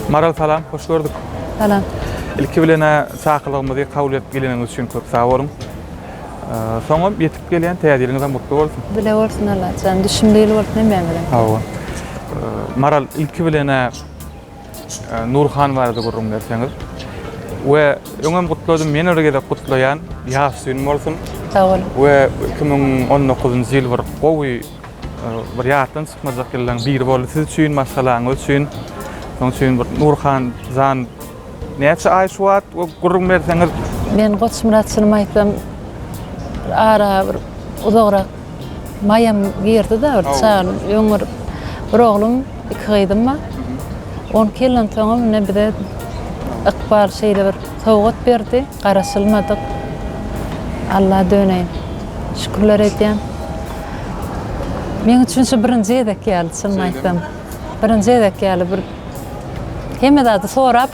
Maral salam, hoş gördük. Salam. İlki bilen saqlygymyzy kabul edip geleniňiz üçin köp sag boluň. Soňam ýetip gelýän täze ýylyňyz hem gutly bolsun. Bile bolsun Allah. Sen düşünmeli bolsun hem bilen. Hawa. Maral ilki bilen Nurhan barada gürrüň berseňiz we öňem gutladym ýene bir gezek gutlaýan ýas gün bolsun sag boluň we iki müň on dokuzynjy ýyl bir gowy bir ýatdan çykmajak ýyllaryň biri boldy siz üçin maşgalaňyz üçin şonuň üçin bir Nurhan jan näçe aý şu wagt we gürrüň berseňiz men goçmyrat çynymy aýtsam ara bir uzagrak Maýam girdi-de bir çagan öňňür bir oglum, iki gyzym bar. Ony kellensoňam ine bize ykbal şeýle bir sowgat berdi, garaşylmadyk. Alla döneýin. Şükürler edýän. Meň üçin şu birinji gezek ýaly, çynyny aýtsam. Birinji gezek ýaly bir hemme zady sorap.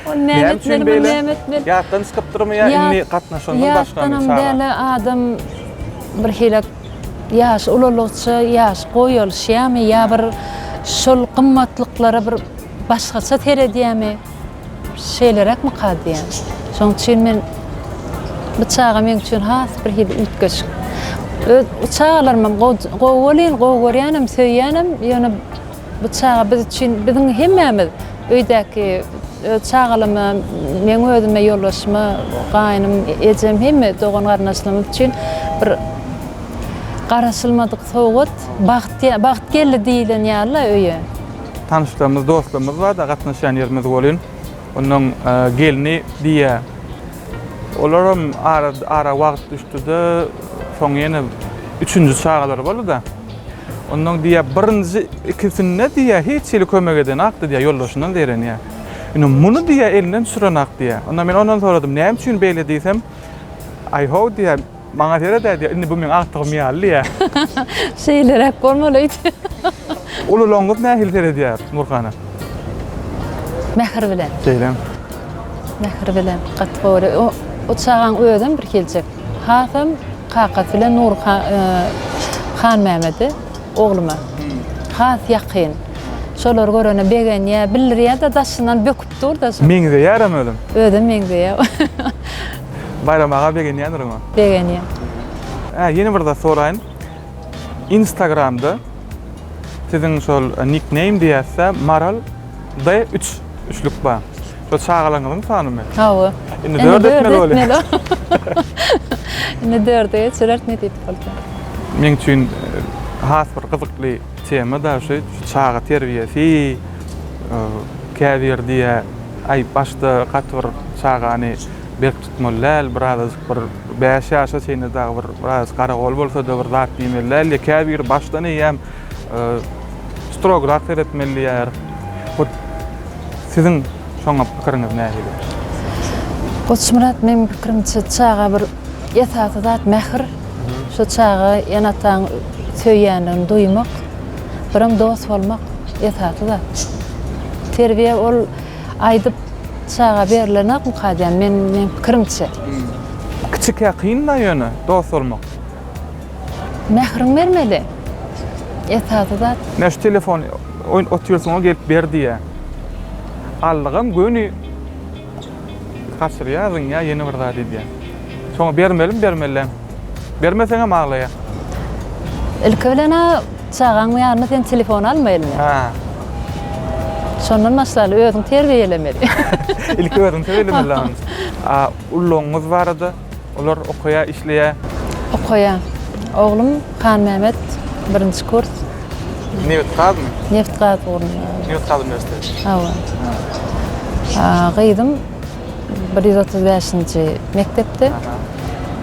Ol näme etmeli, bu näme etmeli? Ýatdan çykypdyrmy ýa indi gatnaşandan başgamy? Ýatdanam däl, adam bir hile ýaş ulalykça ýaş goýalyşýamy ýa bir şol gymmatlyklara bir başgaça seredýämi? Şeýleräkmi ka diýýän. Şonuň üçin men bu çaga meň üçin has bir hili üýtgeşik. Öz çagalarymam gowy welin, gowy görýänem, söýýänem, ýöne Bu çaga biz üçin, biziň hemmämiz, öýdäki öz çagalama, meň özüme, ýoldaşyma, gaýnym, ejem, hemme dogan-garyndaşlarymyz üçin bir garaşylmadyk sowgat, bagt, bagt geldi diýlen ýaly-la öýe. Tanyşlarymyz, dostlarymyz bar-da, gatnaşýan ýerimiz welin, onuň gelni diýýär. Olaram ara wagt düşdi-de, soň ýene üçünji çagalary boldy-da. Ondan diýýär, birinji ikisinde diýýär, hiç hili kömek edenakdy diýýär, ýoldaşyndan zeýrenýär. Indi muny diýýär, elinden düşürenakdy diýýär. Onda men ondan soradym, näme üçin beýle diýsem, Aý-how diýýär, maňa seret-ä diýýär, indi bu meň agtygym ýaly diýýär. Şeýleräk bolmaly öýt. Uly loňňut nähili seredýär Nurhana? Mähir bilen. Şeýlemi? Mähir bilen, gaty gowy. O çagaň özem birhiljek. Hasam kakasy bilen Nur Hanmämedi ogluma has ýakyn. Şolary görende begenýär, bildirýär-de, daşyndan böküp dur-da. Meňzeýärem özem. Özem meňzeýär. Baýram aga begenýändir oňa. Begenýär. Hä, ýene bir zat soraýyn. Instagramda siziň şol nickname diýýäs-dä, Maral D üç, üçlük bar. Şu çagalaryňyzyň sanymy? Hawa. Indi dört etmeli bolýar. Indi dörde geçirer nesip bolsa. Meň üçin e, has bir gyzykly tema da şu çaga terbiýesi. E, Käbir diýä, aý başda gaty bir çagany berk tutmaly däl, birazajyk bir 5 ýaşa çenli dagy bir biraz garagol bolsa-da bir zat diýmeli däl diýýär. Käbiri başdan eýýäm Strograk seretmeli diýýär. Hut siziň şoňa pikiriňiz nähili? Goçmyrat meniň pikirimçe çaga bir esasy zat mähir. Şu çaga ene-ataň söýýändigini duýmak, birem dost bolmak esasy zat. Terbiýe ol aýdyp çaga berilenokmy kadýam, men meniň pikirimçe. Kiçikä kyn-da ýöne dost bolmak. Mähriň bermeli esasy zat. Men şu telefon oýun otyrsyňa gelip ber diýä. Allygam göni gaçyrýa zyňýa ýene bir zat edýä. Soňa bermelim bermelem. Bermeseňem aglaýa. Ilki bilen a çagaň ýanyna sen telefon alma eline. Hä. Şondan başlaly özüň terbiýelemeli. Ilki özüň terbiýelemeli. A ullugyňyz barada. Olar okaýar, işleýär? Okaýar. Oglum Hanmämmet birinji kurs. Nebitgazmy? Nebitgaz ugrunda. Nebitgaz uniwersiteti. Hawa. Gyzym bir ýüz otuz bäşinji mekdepde.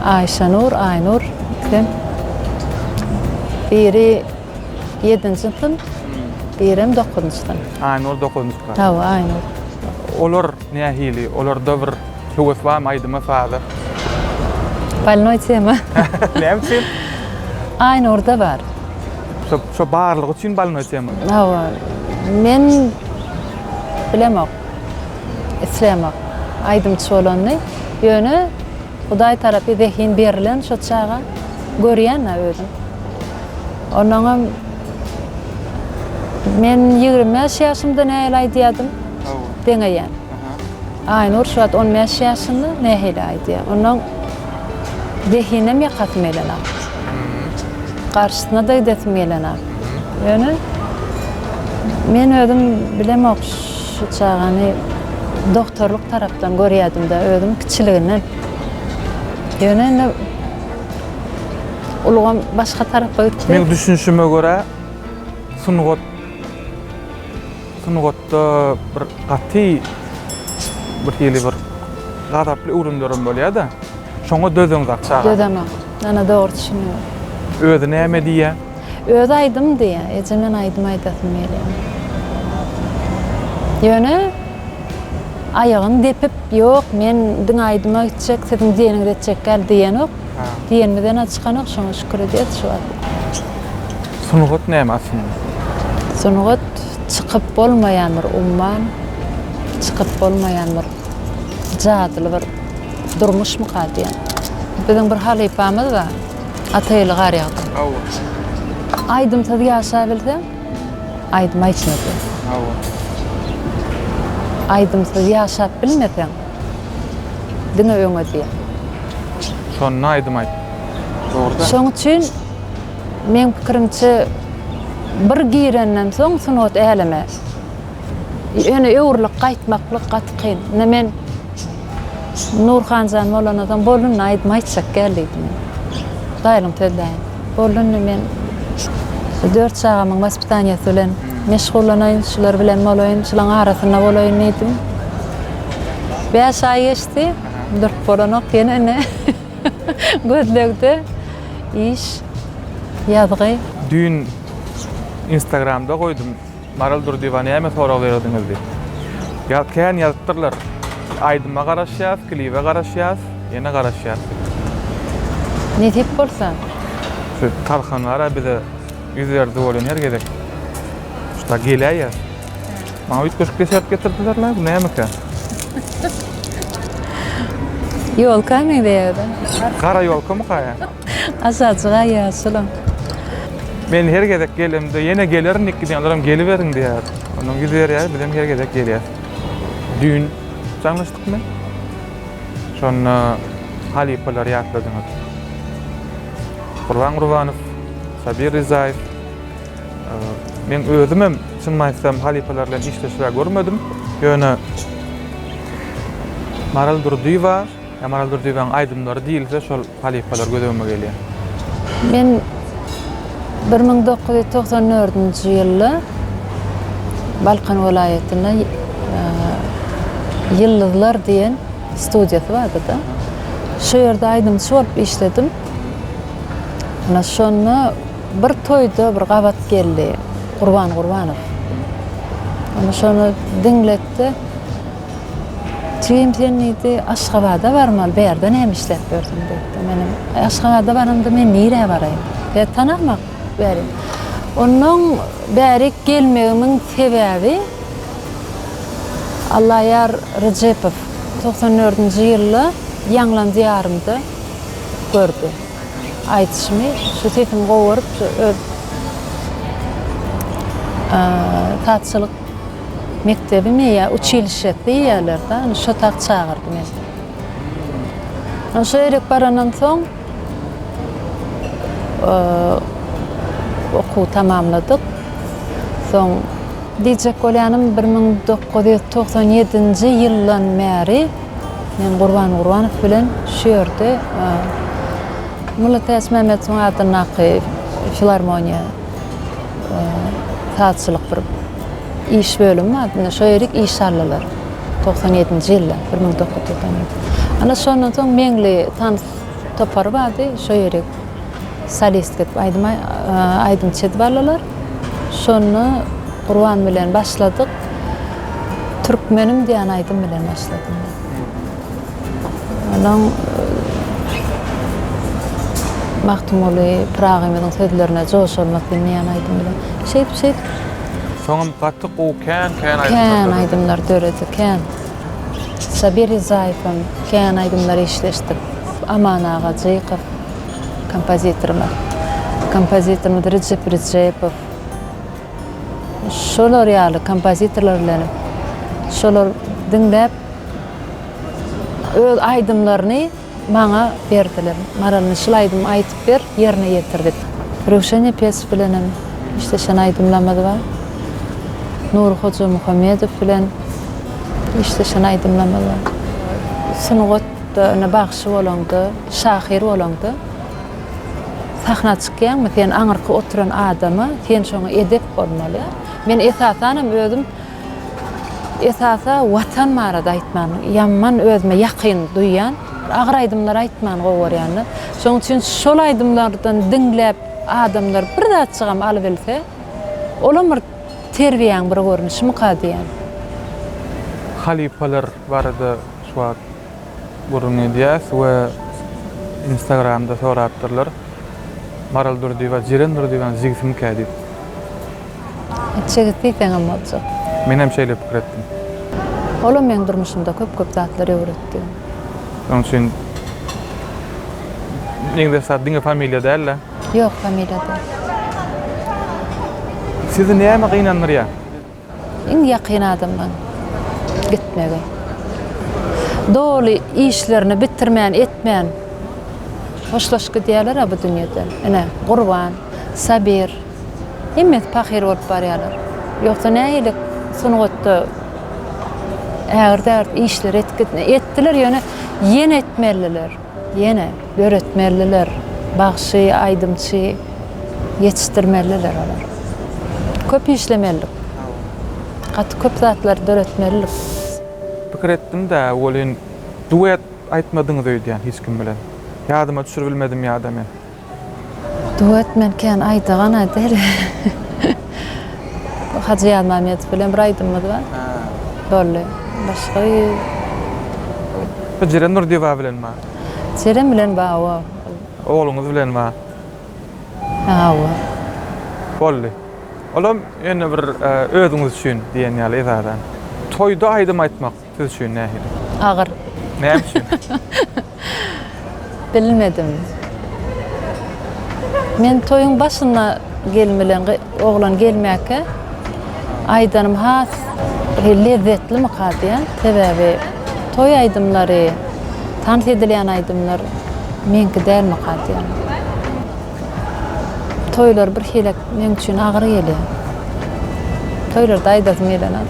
Aýşanur, Aýnur ikisem. Biri Ýedinji syn, birem dokuzynjy syn. Aýnur dokuzynjy klas. Hawa, Aýnur. Olar nähili? Olarda bir höwes barmy aýdyma, saza? Bolnoý tema. Näme üçin? Aýnurda bar. Şo, şo barlygy üçin bolnoý tema. Hawa. Men bilemok. Islämok aýdymçy bolanyny. Ýöne Hudaý tarapy zehin berilen şo çaga, görýän-ä özüň. Onuňam men ýigrimi bäş ýaşymda nähili aýdýadym, deňeýän. Aýnur şu wagt on bäş ýaşynda nähili aýdýar. Onuň zehinem ýakasym gelenok. Garşysyna-da gidesim gelenok. Ýöne men özüm bilemok. Şu çagany dogtorlyk tarapdan görýädim-de özüm kiçiliginden. Ýöne indi ulgam başga tarapa gitdi. Meň düşünişime görä, sungat, sungatda bir gaty bir hili bir gazaply öwrümlerem bolýar-da. Şoňa dözeňzak çaga. Dözemok. Ana dogry düşündim. Özi näme diýýär? Özi aýdym diýýä, eje men aýdym aýdasym gelýär. Ýöne aýagyny depip, ýok men diňe aýdyma gitjek, siziň diýeniňizi etjek däl diýenok. Diýenimiz ene çykanok, şoňa şükür edýäs şu wagt. Sungat näme aslynda? Sungat çykyp bolmaýan bir umman, çykyp bolmaýan bir jadyly bir durmuşmyka diýýän. Biziň bir halypamyz bar. Ata eli gar ýagdy. Aýdym-sazy ýaşabilseň, aýdym aýtmasaň. Aýdymsyz ýaşap bilmeseň, diňe öňe diýýä. Şonda aýdym aýt. Dogruda. Şoň üçin meň pikirimçe bir girenden soň sungat äleme Ýöne öwrülip gaýtmaklyk gaty kyn. Indi men Nurhanjan bolana soň boldy indi aýdym aýtjak gel diýdim. Daýlyň sözleýin. Boldy indi men dört çagamyň waspitaniýasy bilen meşgullanaýyn, şular bilen bolaýyn, şulaň arasynda bolaýyn diýdim. Bäş aý geçdi, durup bolanok ýene indi gözlegde iş, ýazgy. Düýn instagramda goýdum. Maral Durdyýewa näme sorag bererdiňiz diýip. Ýa kän ýazypdyrlar. Aýdyma garaşýas, klibe garaşýas, ýene garaşýas diýip. Nesip bolsa. Şu Tarhan bar-a bize ýüz berdi welin her gezek. Şuda geläýýär. Maňa üýtgeşik desert getirdiler la, bu nämeka? Ýolka meňzeýär-de. Gara ýolkamyka ýa? Azajyk-a ýaşulyň. Men her gezek gelemde, ýene gelerindik diýýänlerem geliberiň diýýär. Onuň ýüz berýär, bizem her gezek gelýäs. Düýn jaňlaşdykmy? Şonda halypalary ýatladyňyz. Gurban Gurbanow, Sabir Rizaýew. Men özümem, çynymy aýtsam, halypalar bilen işleşibä görmedim. Ýöne Maral Durdyýewa, Ýamaral Durdyýewiň aýdymlary diýilse şol halypalar göz öňüme gelýär. Men bir müň dokuz ýüz togsan dördünji ýylda Balkan welaýatynda Ýyldyzlar diýen studiýasy bardyda. Şo ýerde aýdymçy bolup işledim. Ana şonda bir toýda bir gabat geldi Gurban Gurbanow. Ana şony diňletdi. Jigim sen diýdi, Aşgabada barmaly, bärde näme işläp ýörsüň diýipdi. Menem, Aý, Aşgabada baramda men nirä baraýyn? Seni tanamak bäri. Ondan bäri gelmegimiň sebäbi Allaýar Rejepow togsan dördünji ýylda Ýaňlan diýarymda gördi. Aýdyşymy, şu sesimi gowaryp, şu öz sazçylyk Mekdebimi ýa uçilişe diýýärler-dä, ony şo tak çagyrdy meni. Ony şo ýerik barandan soň okuwy tamamladyk. Soň diýjek bolýanym, bir müň dokuz ýüz togsan ýedinji ýyldan bäri men Gurban Gurbanow bilen şu ýerde Mullatayasmämmedowyň adyndaky filarmoniýa Sazçylyk bir iş bölümi bar. Indi şo ýerik iş saldylar. Togsan ýedinji ýylda, bir müň dokuz ýüz togsan ýedi. Ana şondan soň Meňli tans topary bardy. Şo ýerik solistki edip aýdym aýdymçy edip aldylar. Şonda Gurban bilen başladyk. Türkmenim diýen aýdym bilen başladym. Onuň Magtymguly Pyragymyzyň sözlerine joş bolmak diňleýän aýdym bilen. Şeýdip şeýdip. Soňam gaty gowy kän kän aýdymlar döredi. Kän aýdymlar döredi kän. Sabir Rizaýew hem kän aýdymlar işleşdik. Aman aga Jykow kompozitorymyz. Kompozitorymyz Rejep Rejepow. Şolar ýaly kompozitorlar bilen şolar diňläp öz aýdymlaryny maňa berdiler. Maralny şul aýdymy aýdyp ber, ýerine ýetir dip. Röwşen Nepesow bilenem işleşen aýdymlarymyz bar. Nury Hojamuhammedow bilen işleşen aýdymlarymyz bar. Sungat ýa-da bagşy bolaňda, şahyr bolaňda. Sahna çykýaňmy sen aňyrky oturan adama sen şoňa edep bolmaly. Men esasanam özüm esasa watan barada aýtman ýaman özüme ýakyn duýýan. Agyr aýdymlar aýtman gowy görýän-de. Şoň üçin şol aýdymlardan diňläp adamlar bir zatjygam alybilse olam bir terbiýäň bir görnüşimyka diýýän. Halypalar barada şu wagt. Gürrüň edýäs we Instagramda sorapdyrlar. Maral Durdyýewa Jiren Durdyýewanyň jigisimikä diýip. Jigisi diýseňem boljak. Menem şeýle pikir etdim. Olam meň durmuşymda köp-köp zatlary öwretdi. Şonuň üçin Negde esasy diňe familiýa däl-de. Ýok, familiýa däl. Sizi näme gynandyrýar? Iň ýakyn adamlaň gitmegi. Doly işlerini bitirmän etmän hoşlaşyp gidýärler-ä bu dünýeden. Ine, Gurban, Sabir, hemmesi pahyr bolup barýarlar. Ýogsa nähili sungatda ägirt-ägirt işleri etdiler, ýöne ýene etmelidiler. Ýene döretmeliler, bagşy, aýdymçy ýetişdirmeliler olar. Köp işlemelidik. Gaty köp zatlary döretmelidik. Pikir etdim-de, welin duet aýtmadyňyz öýdýän hiç kim bilen. Ýadyma düşürbilmedim ýa-da men. Duet men kän aýdagan a däl. Hajy Ýazmammedow bilen bir aýdymymyz bar. Boldy. Başga ýüz. Bu Jeren Nurdyýewa bilen bar. Jeren bilen bar o. Ogluňyz bilen bar. Hawa. Boldy. Olam ýöne bir özüňiz üçin diýen ýaly esasan. Toýda aýdym aýtmak. Siz üçin nähili? Agyr. Näme üçin? Bilmedim. Men toýuň başynda gelin bilen oglan gelmäkä aýdanym has bir lezzetlimikä diýen. Sebäbi toý aýdymlary, tans edilýän aýdymlar meňki dälmikä diýen. Toýlar bir hile meň üçin agyr gelýär. Toýlarda aýdasym gelenok.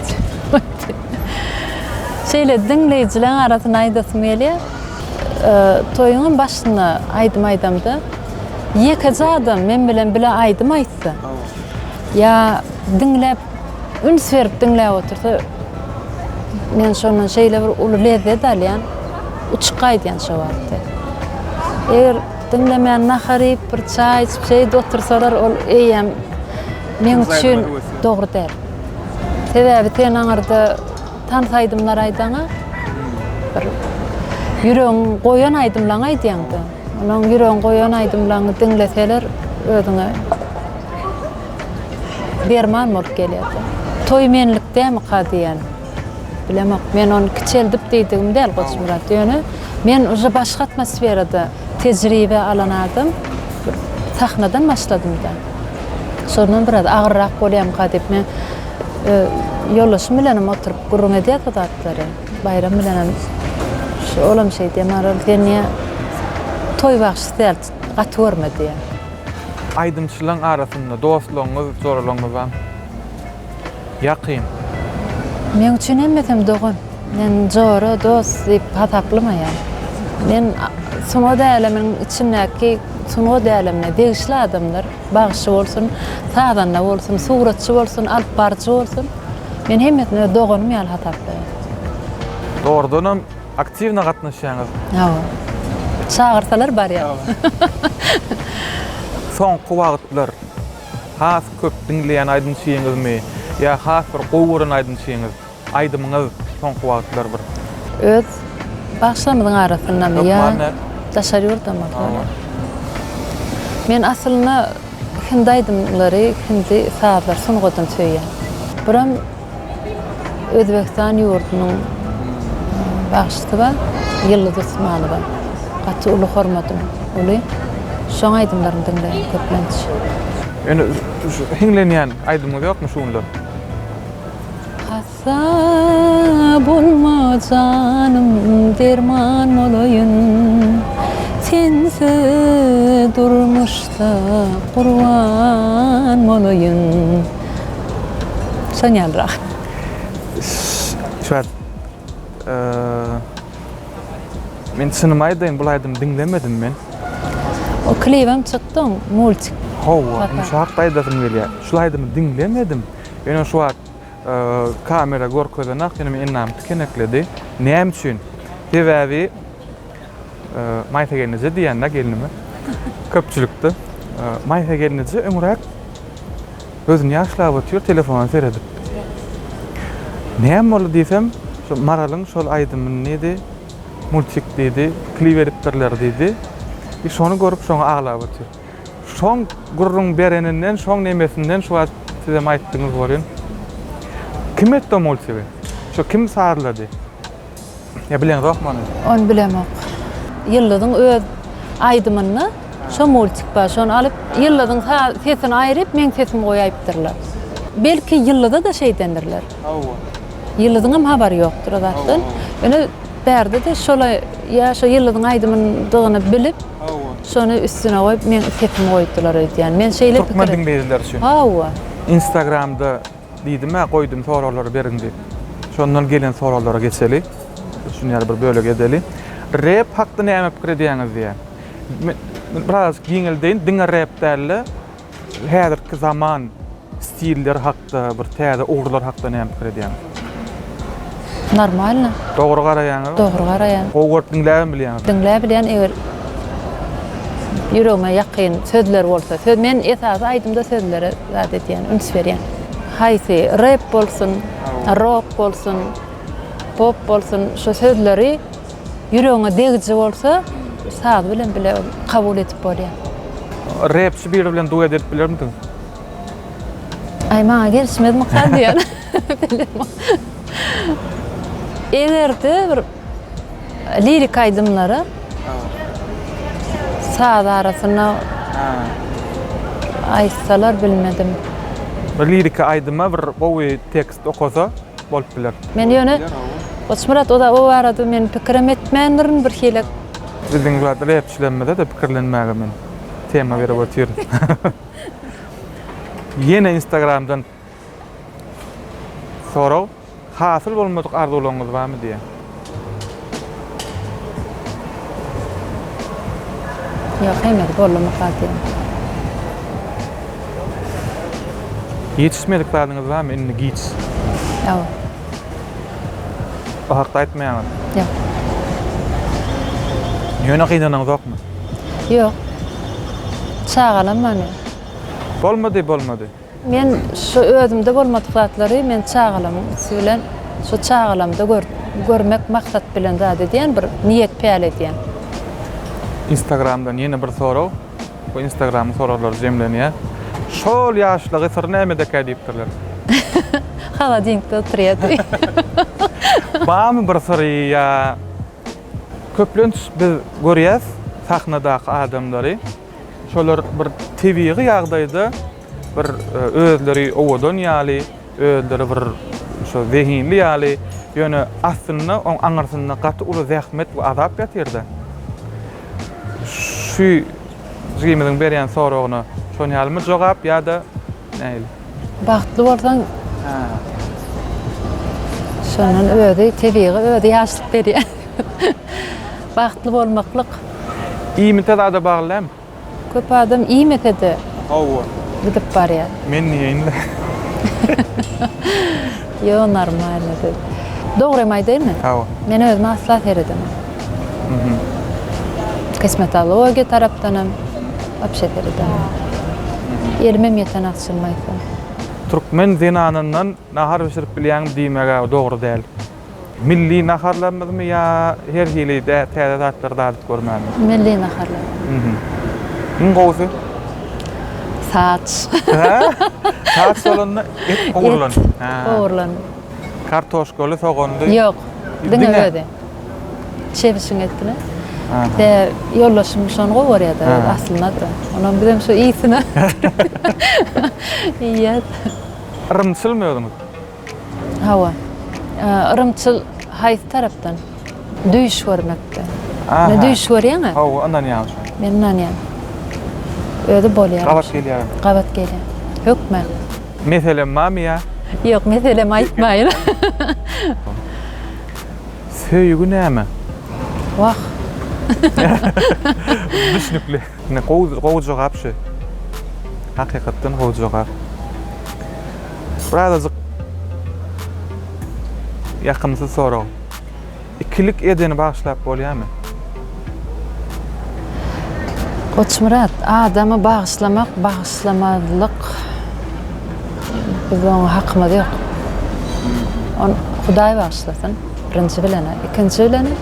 Şeýle diňleýjileň arasyna aýdasym gelýär. Toýuň başynda aýdym aýdamda ýekeje adam men bilen bile aýdym aýtsa, ýa diňläp üns berip diňläp otursa, men şondan şeýle bir uly lezzet alýan, uçup gaýdýan şo wagty. Eger diňlemän nahar iýip, bir çaý içip, şeýdip otursalar, ol eýýäm meň üçin dogry däl. Sebäbi sen aňyrda tans aýdymlar aýdaňa bir ýüregiň goýan aýdymlaň aýdýaňda. Onuň ýüregiň goýan aýdymlaňy diňleseler özüňe derman bolup gelýär. Toý menlikdämika diýen. Bilemok, men ony kiçeldip diýdigim däl Goçmyrat, ýöne men uje başga atmosferada tejribe alan adam, bir sahnadan başladym-da. Şondan biraz agyrrak bolýamyka diýip, men ýoldaşym bilenem oturyp gürrüň edýäs bu zatlary. Baýram bilenem şu olam şeýdýär, Marwam sen niýe toý bagşysy däl, gaty görme diýýär. Aýdymçylaryň arasynda dostlaryňyz, joralaryňyzam? Ýakyn. Meň üçin hemmesem dogan. Men jora, dost diýip hasaplamaýan. Men sungat äleminiň içindäki sungat älemine degişli adamlar, bagşy bolsun, sazanda bolsun, suratçy bolsun, alyp baryjy bolsun, men hemmesini öz doganym ýaly hasaplaýan. Dogrudanam aktiwna gatnaşýaňyz. Hawa. Çagyrsalar barýan. Soňky wagtlar. Has köp diňleýän aýdymçyňyzmy ýa has bir gowy gören aýdymçyňyz, aýdymyňyz soňky wagtlar bir. Öz bagşylarymyzyň arasyndamy ýa daşary ýurdamy soraýan. Men aslynda hindi aýdymlary, hindi sazlar sungatyny söýýän. Buram. Özbegistan ýurdunyň bagşysy bar, Ýyldyz Usmanowa. Gaty uly hormatym uly. Şoň aýdymlaryny diňleýän köplenç. Ýöne şu hiňlenýän aýdymyňyz ýokmy şu günler? Hassa bolma janym derman bolaýyn Sensiz durmuşda gurban bolaýyn. Sonýanrak. Şuwagt Men çynymy aýdaýyn, bul aýdymy diňlemedim men. O klibem çykdy, multik. Hawa, indi şu hakda aýdasym gelýär. Şul aýdymy diňlemedim. Ýöne şu wagt kamera görkezenak, ýöne men enämi tikenekledim. Näme üçin? Sebäbi Maýsa gelneje diýýän-dä gelnime. Köpçülikde Maýsa gelneje öňräk gözüni ýaşlap otyr, telefona seredip. Näme boldy diýsem, şo Maralyň şol aýdymyny diýdi, multik diýdi, klip edipdirler diýdi. I şony görüp şoňa aglap otyr. Şoň gürrüň bereninden, şoň nemesinden şu wagt sizem aýtdyňyz welin, kim etdi o multigi? Şo kim sazlady? Ýa bileňzokmy ony? Ony bilemok. Ýyldyzyň öz aýdymyny şo multik bar, şony alyp, Ýyldyzyň sesini aýryp, meň sesimi goýaýypdyrlar. Belki Ýyldyza-da şeýdendirler. Hawa. Ýyldyzyňam habary ýokdur o zatdan. Ýöne bärde-de şolaý ýa şo Ýyldyzyň aýdymydygyny bilip, şony üstüne goýup, meň sesimi goýupdyrlar öýdýän. Men şeýle pikir. Türkmen diňleýjileri üçin. Hawa. Instagramda. Diýdim-ä, goýdum soraglary beriň diýip. Şondan gelen soraglara geçeli. Şuny ýaly bir bölegi edeli. Rap hakda näme pikir edýäňiz diýýär. Men biraz giňeldeýin, diňe rap däl-de, häzirki zaman stilleri hakda, bir täze ugurlar hakda näme pikir edýäňiz? Normalno. Dogry garaýaňyzmy? Dogry garaýan. Gowy görüp diňläbem bilýäňizmi? Diňläp bilýän eger ýüregime ýakyn sözler bolsa. Söz men esasy aýdymda sözlere zat edýän, üns berýän. Haýsy rep bolsun, rok bolsun, pop bolsun şu sözleri ýüregiňe degiji bolsa saz bilen bile kabul edip bolýar. Repçi biri bilen duet edip bilermidiňiz? Aý maňa gelişmez mykar diýýän. Egerde bir lirik aýdymlara saz arasyna aýtsalar bilmedim. Bir liriki aýdyma bir gowy tekst okasa bolup biler. Men ýöne Goçmyrat o barada men pikirem etmändirin birhili. Biziň zat repçilerimize-de pikirlenmäge men tema berip otyr. Ýene instagramdan. Sorag, Hasyl bolmadyk arzuwlaryňyz barmy diýýär. Ýok, heniz bolumok hasyl. Ýetişmedik zadyňyz barmy indi giç? Ýok. Bu hakda aýtmaýaňyz. Ýok. Ýöne gynanaňyzokmy? Ýok. Çagalam many. Bolmady, bolmady. Men şu özümde bolmadyk zatlary men çagalamyň üsti bilen şu çagalamda görmek maksat bilen zat edýän bir niýet päl edýän. Instagramdan ýene bir sorag we instagramyň soraglar jemlenýär. Şol ýaşlygy syry nämedekä diýipdirler. Holodilnikde oturýar diýip. Barmy bir syry ýa köplenç biz görýäs sahnadaky adamlary. Şolar bir tebigy ýagdaýda bir özleri owadan ýaly, özleri bir şo zehinli ýaly, ýöne aslynda oň aňyrsynda gaty uly zähmet we azap ýatyrdy. Şu jigimiziň berýän soragyna şon ýalymy jogap ýa-da nähili? Bagtly bolsaň şondan özi tebigy özi ýaşlyk berýär. Bagtly bolmaklyk. Iýmite zada bagly dälmi? Köp adam iýmese-de Hawa. gidip barýar. Men iýeýin-le. Ýo normalny siz. Dogrymy aýdaýynmy? Hawa. Men özüme asla seredemen. Kosmetologiýa tarapdanam wapşe sereden. Elimem ýeten agşam aýtsam. Türkmen zenanyndan nahar bişirip bilýäňmi diýmeg-ä dogry däl. Milli naharlarymyzmy ýa her hili täze zatlary dadyp görmämi? Milli naharlar. Iň gowusy? Saç. Saç bolanda et ogurlan. Et ogurlan. Kartoşkaly soganly. Ýok. Diňe özi. Çebişiň etini. Be ýoldaşym şony gowy görýärdi aslynda da. Onam bizem şu ýsine iýýäs. Yrymçylmy özüňiz? Hawa. Yrymçyl haýsy tarapdan? Düýş görmekde. Aha. Düýş görýäňä? Hawa, ynanýan şo. Men ynanýan. Özi bolýar. Gabat gelýär. Gabat gelýär. Hökman. Meselem bamy ýa? Ýok, meselem aýtmaýyn. Söýgi näme? Wah. Düşnükli. Ine gowy gowy jogap şu. Hakykatdan gowy jogap. Birazajyk ýakymsyz sorag. Ikilik edeni bagyşlap bolýamy? Goçmyrat, adamy bagyşlamak, bagyşlamazlyk biziň hakymyz ýok. Ony Hudaý bagyşlasyn, birinji bilenä. Ikinji bilenä.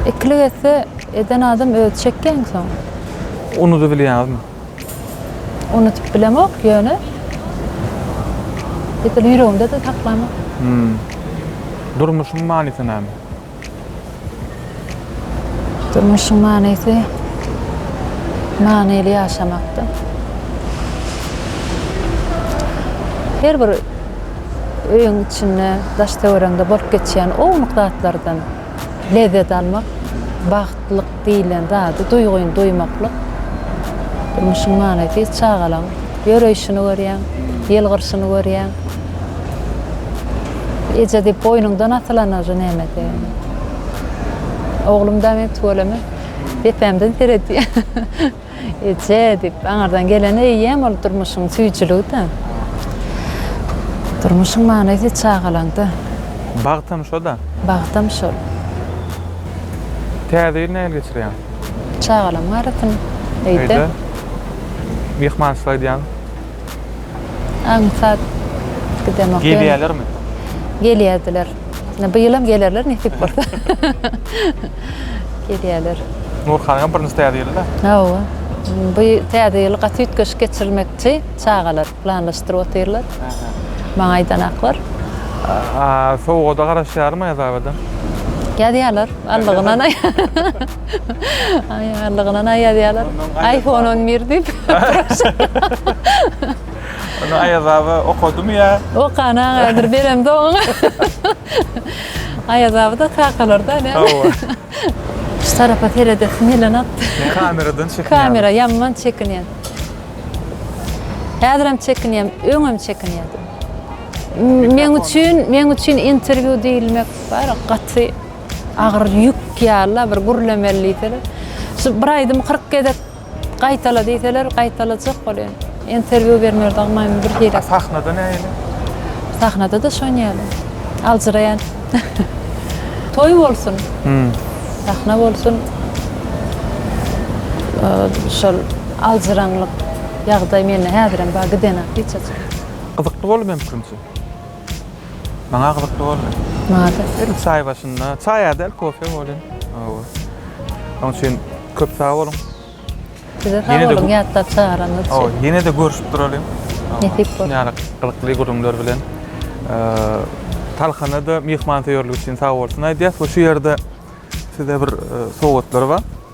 Ikilik etse, eden adam özi çekýäň soň. Unudybilýäňizmi? Unudyp bilemok, ýöne edil ýüregimde-de saklamok. Hum. Durmuşyň manysy näme? Durmuşyň manysy manyly ýaşamakda. Her bir öýüň içinde, daş-töweregiňde bolup geçýän ownuk zatlardan. Lezzet almak, bagtlyk diýilen zady duýgyn duýmaklyk. Durmuşyň manysy çagalaň ýöreýşini görýäň, ýylgyrşyny görýäň. Eje diýip boýnuňdan asylanajy nämede. Oglum-da men tüweleme depämden seredýär. Eje diýip, aňyrdan gelen eýýäm ol durmuşyň süýjüligi-dä. Durmuşyň manysy çagalaňda. Bagtam şo-da. Bagtam şol. Täze ýyl nähili geçirýäň? Çagalamyň arasyn, öýde. Öýde. Myhmançylyk edýäňmi? Aňsat gidemok. Gelýärlermi? Gelýärdiler. Ine bu ýylam gelerler nesip bolsa. Gelýärler. Nurhanyňam birinji täze ýyly-da. Hawa. Bu täze ýyly gaty üýtgeşik geçirmekçi çagalar planlaşdyryp otyrlar. Maňa aýdanaklar. Sowgada garaşýarmy Aýazabada? Ýazýarlar. Allygyna naý. Aý, allygyna naý ýazýarlar. Aýfon on bir diýip. Ony Aýaz aba okadymy ýa? Okan agadyr beremde oňa. Aýaz aba-da kakalarda näme? Hawa. Şu tarapa seredesim gelenokdy. Kameradan çekinýäňmi? Kamera ýaman çekinýän. Häzirem çekinýän, öňem çekinýän. Meň üçin, meň üçin interwýu diýilmek bar ya gaty agyr ýük ýaly-la bir gürlemeli diýseler. Şu bir aýdymy kyrk gezek Gaýtala diýseler gaýtalajak bolýan. Interwýu bermer dagy maýmyn bir hili. A sahnada nähili? Sahnada-da şon ýaly. Aljyraýan. Toý bolsun. Sahna bolsun. Şol aljyraňlyk ýagdaý mende häzirem bar gidenak hiç açan. Gyzykly boldy meň pikirimçe. Maňa gyzykly boldy. Mada. Ilk çaý başynda, çaý adel kofe bolýar. Hawa. Onuň üçin köp sag boluň. Size sag boluň, ýatlap çagyranyňyz üçin. Hawa, ýene de görüşip duralyň. Nesip bolsa. Ýa-da gyzykly gürrüňler bilen. Talhana da myhmansöýerligi üçin sag bolsun aýdýas we şu ýerde size bir sowgatlar bar.